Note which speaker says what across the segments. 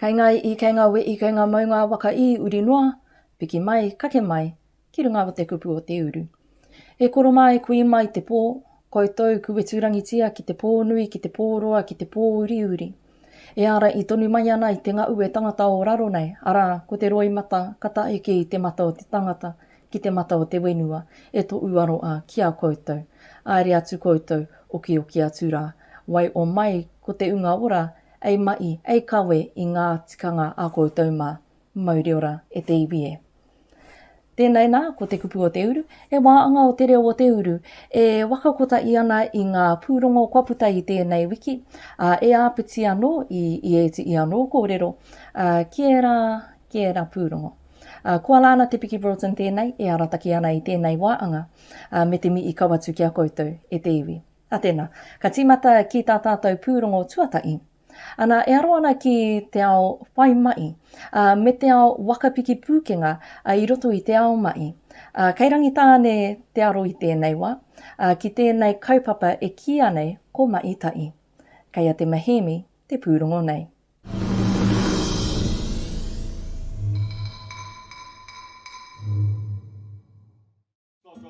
Speaker 1: Kei ngā i'i, kei ngā we'i, kei ngā maunga waka ī uri noa, piki mai, kake mai, ki runga o te kupu o te uru. E koro mā e kui mai te pō, koutou kuweturangitia ki te pō nui, ki te pō roa, ki te pō uriuri. E ārahi tonu mai ana i te ngaue tangata o raro nei, arā, ko te roimata ka tae ki te mata o te tangata, ki te mata o te whenua, e to uaro a ki a koutou. Aere atu koutou, okioki atu ra. Wai o mai ko te unga ora, ei mahi, ei kawe i nga tikanga a koutou ma. Mauriora e te iwi e. Tēnei nā, ko te kupu o te uru, he wāanga o te reo o te uru e wakakotahi ana i ngā pūrongo kua puta i tēnei wiki, ā, e āpiti anō i, i ēti i anō kōrero, ā, ki ērā, ki ērā pūrongo. Ā, koa la ana te Piki Broughton tēnei e arataki ana i tēnei wāanga, ā, me te mi i kawatu ki a koutou, e te iwi. Ā tēnā, ka tīmata ki tā tātou pūrongo tuatahi. Ana, e aro ana ki te ao whai maʻi, ā, me te ao waka piki pūkenga i roto i te ao maʻi. Ā, kei Rangitāne te aro i tēnei wā, ā, ki tēnei kaupapa e kīia nei ko Maʻi Taʻi. Kei a Te Mahiimi te pūrongo nei.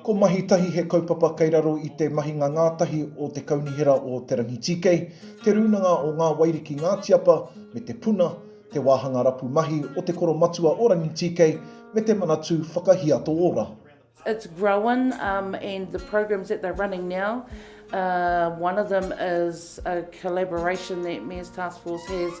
Speaker 2: Ko Mahi Tahi he kaupapa kei raro i te mahinga ngātahi o Te Kaunihera o Te Rangitīkei, Te Rūnanga o Ngā Wairiki Ngātiapa me Te Puna, te wāhanga rapu mahi o Te Koro Matua o Rangitīkei me te Manatū Whakahiato Ora. It's grown
Speaker 3: um and the programs that they're running now uh one of them is a collaboration that Mayor's Taskforce has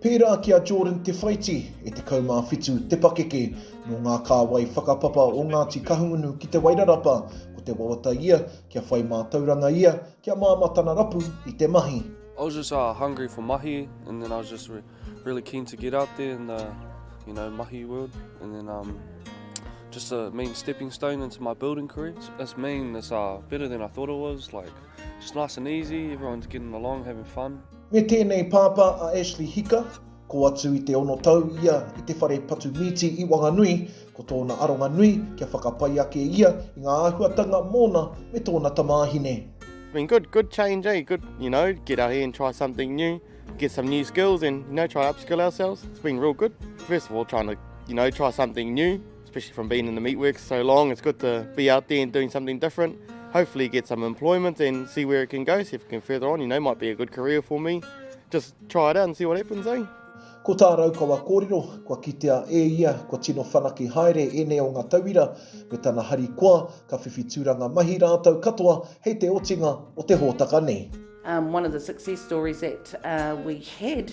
Speaker 4: Pērā ki a
Speaker 2: Jordan Te Whaiti, e 17 te pakeke nō ngā kāwai whakapapa o Ngāti Kahungunu ki Te Wairarapa, ko te wawata ia kia whai mātauranga ia kia māmā tana rapu i te mahi. I was just uh,
Speaker 5: hungry for mahi and then I was just re really keen to get out there in the you know mahi world and then um, just a main stepping stone into my building career. It's, it's mean, it's uh, better than I thought it was, like just nice and easy, everyone's getting along, having fun. Me tēnei pāpā
Speaker 2: a Ashley Hika, ko atu i te ono tau ia i te whare patu mīti i Wanganui, ko tōna aronga nui kia whakapai ake ia i ngā āhuatanga mōna me tōna tamāhine. It's been good, good
Speaker 6: change eh, good, you know, get out here and try something new, get some new skills and, you know, try upskill ourselves, it's been real good, first of all trying to, you know, try something new. especially from being in the meatworks so long, it's good to be out there and doing something different. Hopefully get some employment and see where it can go, see if it can further on, you know, might be a good career for me. Just try it out and see what happens, eh? Ko tā Raukawa
Speaker 2: kōrero, kua kitea e ia kua tino whanake haere ēnei o ngā tauira me tana harikoa ka whiwhi tūranga mahi rātou katoa hei te otinga o te hōtaka nei. Um, one of the success
Speaker 3: stories that uh, we had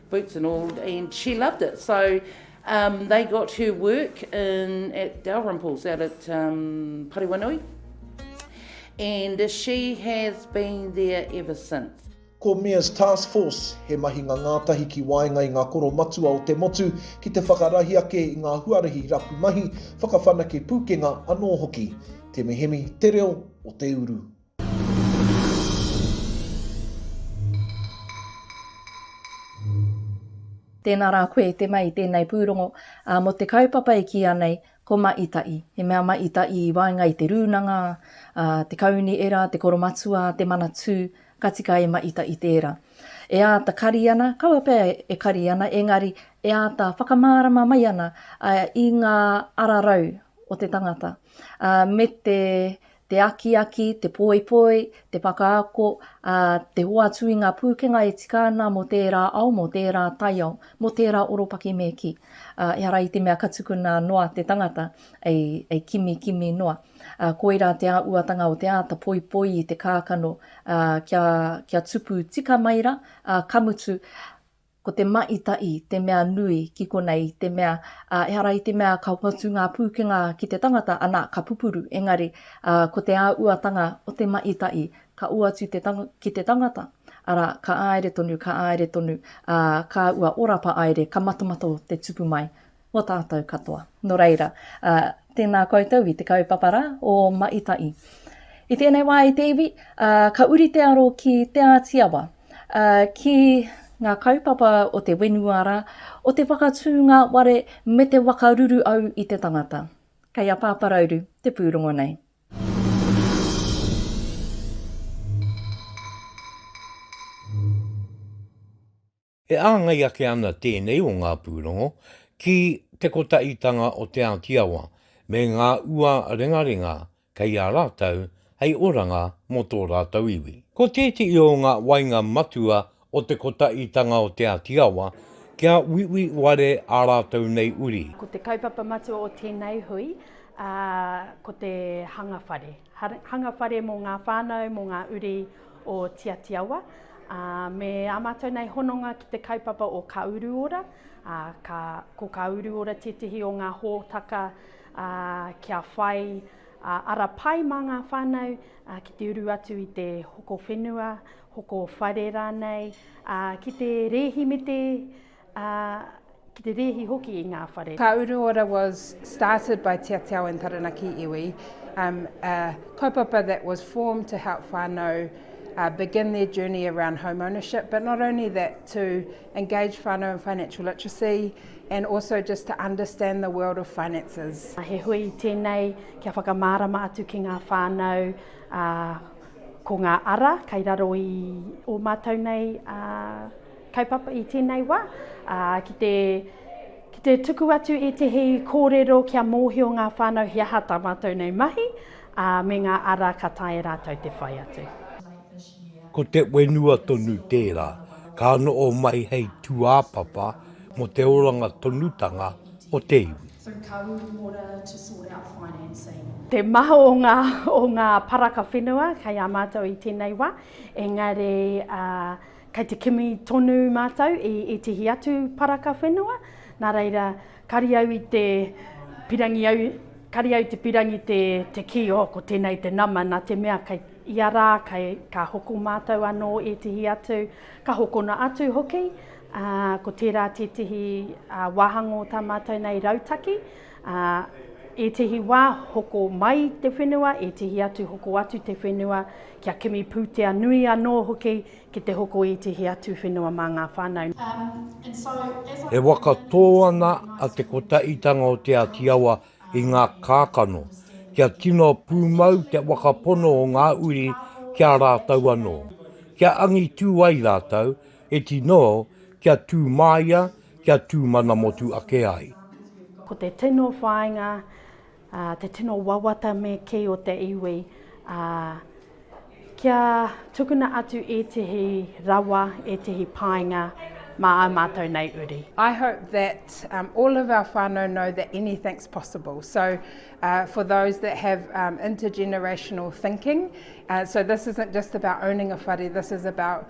Speaker 3: boots and all and she loved it so um they got her work in at Dalrymple's out at um Pariwanui and she has been there ever since. Ko Mia's
Speaker 2: Task Force he mahinga ngātahi ki waenga i ngā koro matua o te motu ki te whakarahi ake i ngā huarahi rapu mahi, whakawhanake pūkenga anō hoki. Te mihemi, te reo o te uru.
Speaker 1: Tēnā rā koe te mei tēnei pūrongo, ā, mō te kaupapa e kīia nei ko Maʻitaʻi. He mea Maʻitaʻi i waenga i te rūnanga, ā, te kauni era, te koromatua, te manatū, ka tika e Maʻitaʻi tērā. E āta kari ana, kaua pea e kari ana, engari e āta whakamārama mai ana i ngā ararau o te tangata, ā, me te te akiaki, te poipoi, te whakaako, ā, te hoatu i ngā pūkenga e tika ana mō tērā ao, mō tērā taiao, mō tērā oropaki me kī. Ā, ehara i te mea ka tukuna noa te tangata hei kimikimi noa. Ā, koirā te āuatanga o te āta poipoi i te kākano, ā, kia, kia tupu tika mai rā, ā, ka mutu, Ko te maʻitaʻi te mea nui ki konei i te mea, ehara i te mea ka hoatu ngā pūkenga ki te tangata, anā, ka pupuru, engari, ko te āuatanga o te maʻitaʻi, ka hoatu ki te tangata, arā, ka āere tonu, ka āere tonu, ā, kāua orapa aere, ka matamata te tupu mai. Mō tātou katoa. Nō reira, ā, tēnā koutou i te kaupapa rā o Maʻitaʻi. I tēnei wā i te iwi, ā, ka uri te aro ki Te Āti Awa, ā, ki. Ngā kaupapa o te whenua rā, o te whakatū ngā ware me te wakaruru au i te tangata. Kei a Pāparauru te pūrongo nei.
Speaker 7: E āngai ake ana tēnei o ngā pūrongo ki te kotaʻitanga o Te Āti Awa me ngā ua rengarenga kei a rātou hei oranga mō tō rātou iwi. Ko tēteʻi o ngā wainga matua o te kotaʻitanga o Te Āti Awa kia uiui ware ā rātou nei uri. Ko te kaupapa matua
Speaker 8: o tēnei hui ko te hanga whare. Hanga whare mō ngā whānau, mō ngā uri o Tiatiawa. Me ā mātou nei hononga ki te kaupapa o Ka Uru Ora. Ko Ka Uru Ora tētehi o ngā hōtaka kia whai ara pai mā ngā whānau ki te uru atu i te hoko whenua, hoko whare rānei, ki te rēhimete ā, ki te rēhi hoki i ngā whare. Ka Uruora was
Speaker 9: started by Tiatiao and Taranaki Iwi, um, a kaupapa that was formed to help whānau uh, begin their journey around home ownership, but not only that, to engage whānau in financial literacy and also just to understand the world of finances. He hui tēnei
Speaker 8: kia whakamārama atu ki ngā whānau uh, ko ngā ara kai raro i o mātou nei uh, Kaupapa i tēnei wā, ā, ki te, ki te tuku atu ētehi kōrero kia mōhio ngā whānau he aha tā mātou nei mahi, ā, me ngā ara ka taea e rātou te whai atu. Ko
Speaker 7: te whenua tonu tērā, ka noho mai hei tūāpapa mō te oranga tonutanga o te iwi.
Speaker 10: Te maha o
Speaker 8: ngā, o ngā paraka whenua kei a mātou i tēnei wā, engari, ā, Kei te kimi tonu mātou i ētehi atu paraka whenua, nā reira, kari au i te pirangi au, kari au te pirangi te, te kī, oh, ko tēnei te nama, nā te mea kei ia rā, kei, ka hoko mātou anō ētehi atu, ka hokona atu hoki, ā, ko tērā tētehi ā, wāhangō tā mātou nei rautaki, Ā, ētehi wā hoko mai te whenua, ētehi atu hoko atu te whenua, kia kimi pūtea nui anō hoki ki te hoko ētehi atu whenua mā ngā whānau.
Speaker 7: E whakatō ana a Te Kotahitanga o Te Āti Awa i ngā kākano, kia tino pūmau te whakapono o ngā uri ki a rātou anō, kia angitū ai rātou, He tino kia tū māia, kia tū mana motu ake ai. Ko te
Speaker 8: tino whāinga, te tino wawata me kī o te iwi, kia tukuna atu ētehi rawa, ētehi painga mā ā mātou nei uri. I hope that
Speaker 9: all of our whānau know that anything's possible, so for those that have intergenerational thinking, so this isn't just about owning a whare, this is about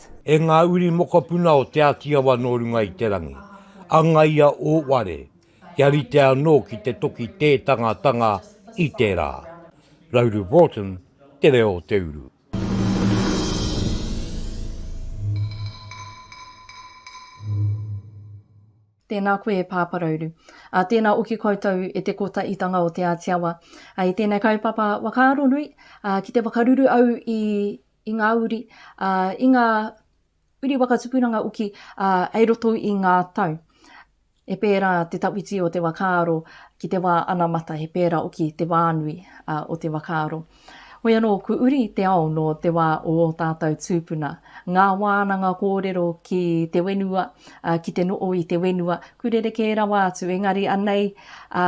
Speaker 9: Christ. E ngā uri
Speaker 7: mokopuna o Te Āti Awa nō runga i te rangi, angaia ō ware kia rite anō ki te toki tētangatanga i te rā. Rauru Broughton, Te Reo o te Uru.
Speaker 1: Tēnā koe e Pāpa Rauru. Ā, tēnā oki koutou e te Kotaitanga o Te Āti Awa. I tēnei kaupapa whakaaro nui, ā, ki te whakaruru au i i ngā uri, ā, i ngā uri waka tupuranga uki, ā, hei roto i ngā tau. He pērā te tawhiti o te wā kāro ki te wā anamata, he pērā hoki te wānui o te wā kāro. Hoi anō, ko uri te ao nō te wā o ō tātou tūpuna. Ngā wānanga kōrero ki te whenua, ki te noho i te whenua, kua rerekē rawa atu, engari anei, ā,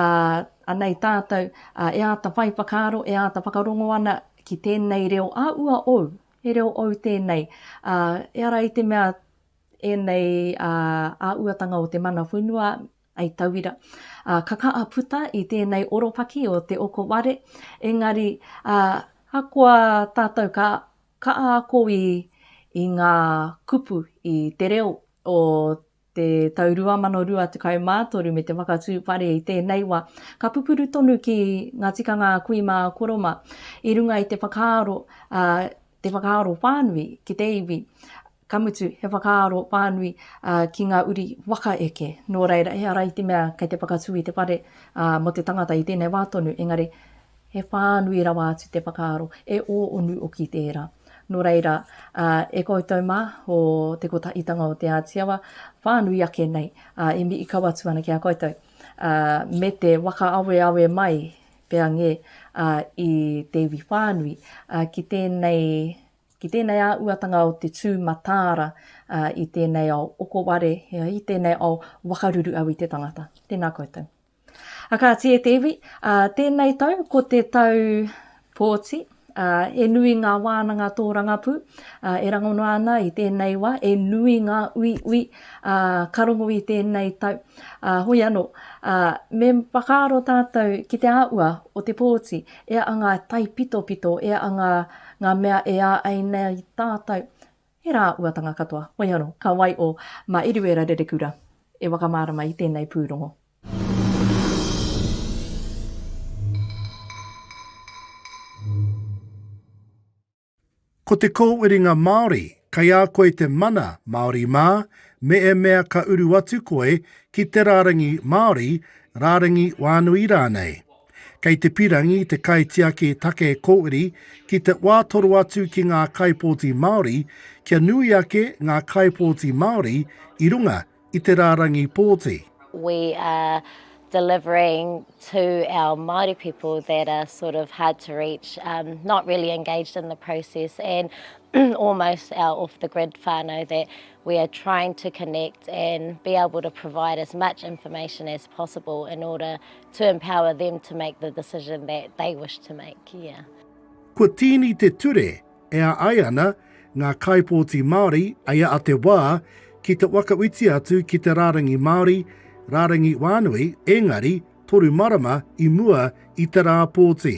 Speaker 1: anei tātou, ā, e āta whai whakaaro, e āta whakarongo ana ki tēnei reo a ua ou, he reo ou tēnei, ā, ehara i te mea ēnei ā, āuatanga o te mana whenua, hei tauira, ā, ka kaha puta i tēnei oropaki o Te Okoware, engari, ā, ahakoa tātou ka kaha ako i, i ngā kupu i te reo o te tau 2023 me te whakatū whare i tēnei wa, ka pupuru tonu ki nga tikanga a kui mā a Koroma i runga i te whakaaro, a, te whakaaro whānui ki te iwi, ka mutu he whakaaro whānui a, ki nga uri waka eke. Nō reira, ehara i te mea kei te whakatū i te whare a, mo te tangata i tēnei wā tonu, engari, He whānui rawa atu te whakaaro, e ō onu oki tērā. Nō reira, e koutou mā, o te Kotahitanga o Te Āti Awa, whānui ake nei, e mii kau atu ana ki a koutou, me te whakaaweawe mai pea ngē i te iwi whānui ki tēnei, ki tēnei āuatanga o te tū mataara i tēnei ao okoware, i tēnei ao wakaruru au i te tangata. Tēnā koutou. A kāti e te iwi, a, tēnei tau ko te tau pōti, a, e nui ngā wānanga tōrangapū a, e rangona ana i tēnei wā, e nui ngā uiui a, ka rongo i tēnei tau. A, hoi anō, a, me whakaaro tātou ki te āhua o te pōti, e a ngā taipitopito, e a ngā, ngā mea e ā ai nei tātou, He rā uatanga katoa. Wei anō, ka wai ō. Mā Eruera Rerekura e wakamārama i tēnei pūrongo.
Speaker 11: Ko te kōwhiringa Māori, kei a koe te mana Māori mā, me e mea ka uru atu koe ki te rārangi Māori, rārangi wānui rānei. Kei te pirangi te kaitiaki take kōiri ki te wā toro atu ki ngā kaipōti Māori kia nui ake ngā kaipōti Māori i runga i te rārangi pōti. We
Speaker 12: are delivering to our Māori people that are sort of hard to reach, not really engaged in the process and almost our off the grid whānau that we are trying to connect and be able to provide as much information as possible in order To empower them to make the decision that they wish to make, yeah. Kua tīni
Speaker 11: te ture e a ai ana ngā kaipōti Māori i a te wā ki te whakawhiti atu ki te rārangi Māori, rārangi whānui, engari, toru marama i mua i te rā pōti.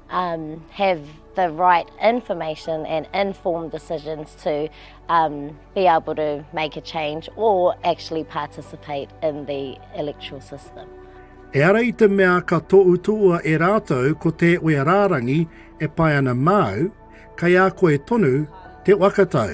Speaker 12: Um, have the right information and informed decisions to um, be able to make a change or actually participate in the electoral system. Eara i
Speaker 11: te mea ka tōutua e rātou ko te wea rārangi e pai ana māu, kai a koe tonu te wakatau.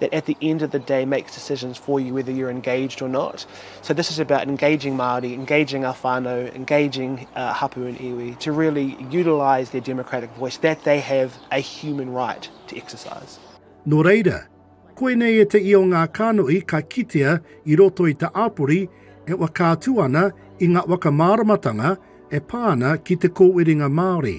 Speaker 13: that at the end of the day makes decisions for you whether you're engaged or not. So this is about engaging Māori, engaging our whānau, engaging uh, hapu and iwi to really utilise their democratic voice that they have a
Speaker 11: human
Speaker 13: right to exercise.
Speaker 11: Nō
Speaker 13: reira, koinei
Speaker 11: e te i o ngā kānoi ka kitea i roto i te āpori e whakaatu ana i ngā whakamāramatanga e pā ana ki te kōwhiringa Māori.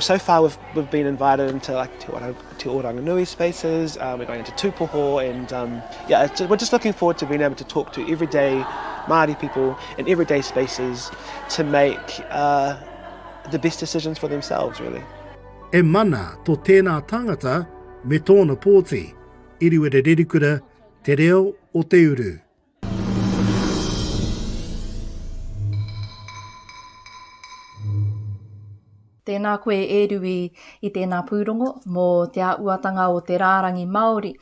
Speaker 12: So far we've
Speaker 13: we've been invited into like Te Orang, Te Oranganui spaces. Uh, we're going into Tupoho, and um, yeah, just, we're just looking forward to being able to talk to everyday Maori people in everyday spaces to make uh, the best decisions for themselves, really. E mana
Speaker 11: to tēnā tangata me tōna pōti, Iriwere Rerikura, Te Reo o Te Uru.
Speaker 1: Tēnā koe e Rui i tēnā pūrongo mō te āhuatanga o te rārangi Māori.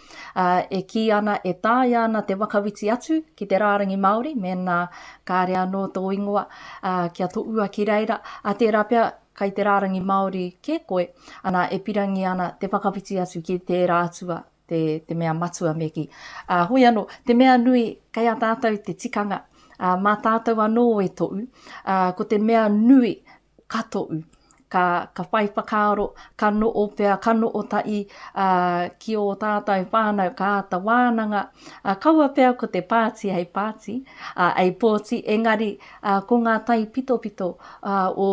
Speaker 1: E kī ana e taea ana te whakawhiti atu ki te rārangi Māori mēnā kāre anō tō ingoa kia tohua ki reira, ā, tērā pea kei te rārangi Māori kē koe, ana, e pirangi ana te whakawhiti atu ki tērā atua te, te mea matua me kī. Ā, hoi anō, te mea nui, kei a tātou te tikanga, ā, mā tātou anō e toʻu, ā, ko te mea nui, ka toʻu, ka, ka whai whakaaro, ka noʻo pea, ka noʻo taʻi, ā, ki ō tātou whānau, ka āta wānanga, ā, kaua pea ko te pāti hei pāti, ā, hei pōti, engari, ā, ko ngā taipitopito, ā, o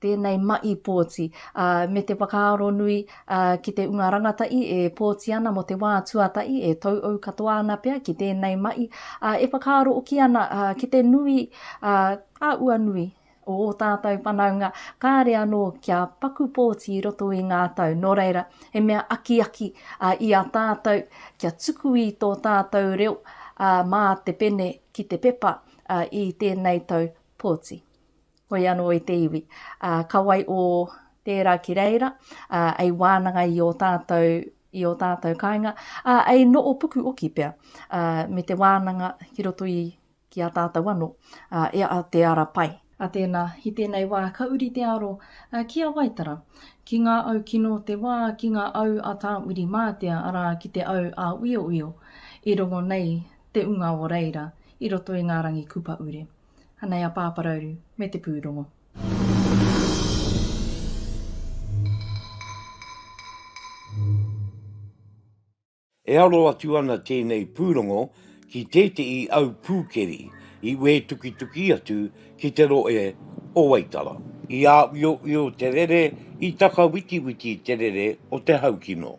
Speaker 1: tēnei maʻi pōti, ā, me te whakaaro nui, ā, ki te unga rangatahi e pōti ana mō te wā tuatahi, e tauau katoa ana pea ki tēnei maʻi, ā, e whakaaro hoki ana, ā, ki te nui, ā, a ua nui o ō tātou whanaunga, kāre anō kia paku pōti i roto i ngā tau, nō reira, he mea akiaki, ā, i a tātou kia tuku i tō tātou reo, ā, mā te pene ki te pepa, ā, i tēnei tau pōti. Hoi anō i te iwi, ā, ka wai ō tērā ki reira, ā, ei wānanga i ō tātou, i ō tātou kāinga, ā, ei noo puku oki pea, ā, me te wānanga ki roto i, ki a tātou anō, ā, e a Te Ara Pai. Ā tēnā, i tēnei wā ka uri te aro, ā, ki a Waitara, ki ngā au kino o te wā, ki ngā au a Tā Wiri Mātea, arā, ki te au a Uiouio, i rongo nei te unga o reira, i roto i ngā rangi kupa ure. Anei a Pāparauru me te pūrongo.
Speaker 7: E aro atu ana tēnei pūrongo ki tētehi au pūkeri i wētukituki atu ki te rohe o Waitara. I āwioio te rere, i takawitiwiti te rere o te haukino.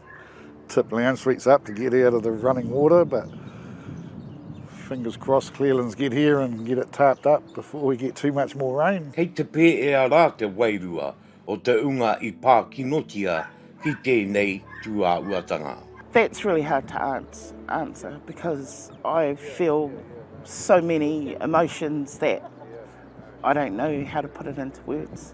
Speaker 14: Tip Leanne Street's up to get out of the running water, but fingers crossed Clearlands get here and get it tarped up before we get too much more rain. Kei te pēea rā
Speaker 7: te wairua o te unga i pākinotia ki tēnei tūāhuatanga. That's really hard
Speaker 15: to answer because I feel so many emotions that I don't know how to put it into words.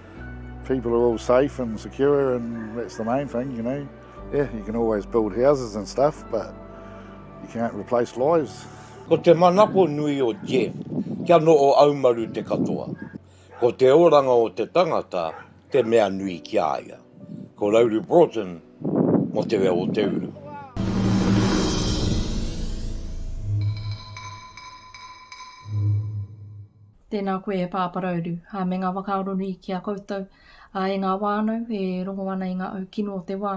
Speaker 14: People are all safe and secure and that's the main thing, you know. Yeah, you can always build houses and stuff, but you can't replace lives. Ko te manako
Speaker 7: nui o Jeff, kia no o aumaru te katoa. Ko te oranga o te tangata, te mea nui ki a ia. Ko Rauru Broughton, mo te reo o te uru.
Speaker 1: Tēnā koe e Pāparauru, ā, me ngā whakaaro nui ki a koutou, ā, e ngā whānau e rongo ana i ngā au kino o te wā,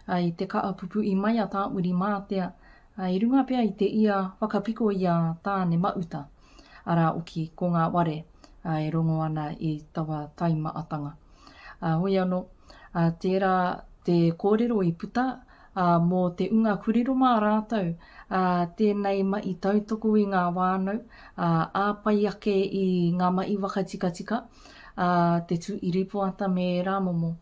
Speaker 1: ā, i te kaapupu i mai a Tāmuri mātea, ā, i runga pea i te ia whakapiko i a Tāne Mauta, arā oki ko ngā ware, ā, e rongo ana i taua taimaatanga. Ā, hoi anō, ā, tērā te kōrero i puta, Ā, mō te unga kurero mā rātou, ā, tēnei mahi tautoko i ngā whānau, ā, āpai ake i ngā mahi whakatikatika, ā, te tū i rīpoata me ērā momo,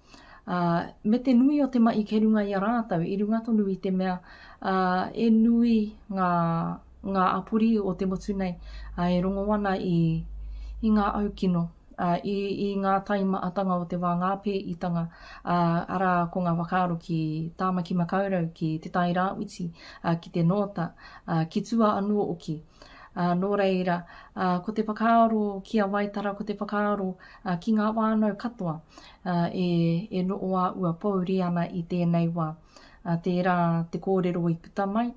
Speaker 1: ā, me te nui o te mahi kei runga i a rātou, i runga tonu i te mea, ā, e nui ngā, ngā apori o te motu nei, ā, e rongo ana i, i ngā au kino. i ngā taimaatanga o te wā ngā pēitanga, arā, ko ngā whakaaro ki Tāmaki Makaurau, ki Te Tai Rāwhiti, ki te Nōta, ki tua anō oki. Nō reira, ko te whakaaro ki a Waitara ko te whakaaro ki ngā whānau katoa e noʻo a ua pouri ana i tēnei wā. Tērā te kōrero i puta mai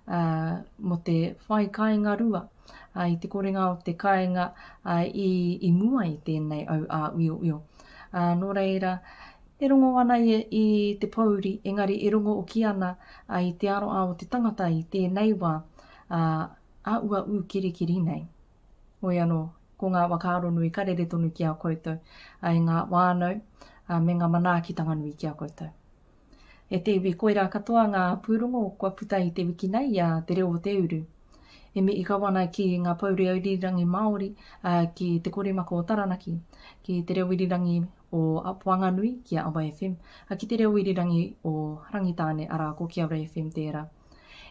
Speaker 1: mō te whai kāinga rua. i te korenga o te kāinga i mua i tēnei au āuiouio. Nō reira, e rongo ana ia i te pōuri, engari e rongo hoki ana i te aroaro o te tangata i tēnei wā āuaū kirikiri nei. Hoi anō, ko ngā whakaaro nui ka rere tonu ki a koutou, e ngā whānau me ngā manaakitanga nui ki a koutou. E te iwi koirā katoa ngā pūrongo kua puta i te wiki nei i a Te Reo o te Uru. E mihi kau ana ki ngā pou reo irirangi Māori ki Te Koremaka o Taranaki, ki Te Reo Irirangi o Whanganui, ki a Awa FM, a ki Te Reo Irirangi o Rangitāne, arā ko Kiaura FM tērā.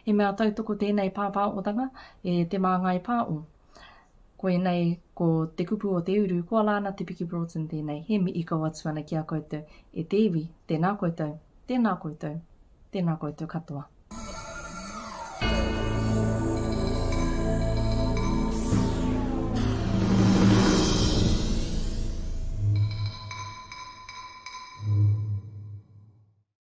Speaker 1: He mea tautoko tēnei pāpāotanga e Te Māngai Pāo. Koinei ko te kupu o te uru, koa lāna te piki Broughton tēnei, he mihi kau atu ana ki a koutou, e te iwi, tēnā koutou, tēnā koutou, tēnā koutou katoa.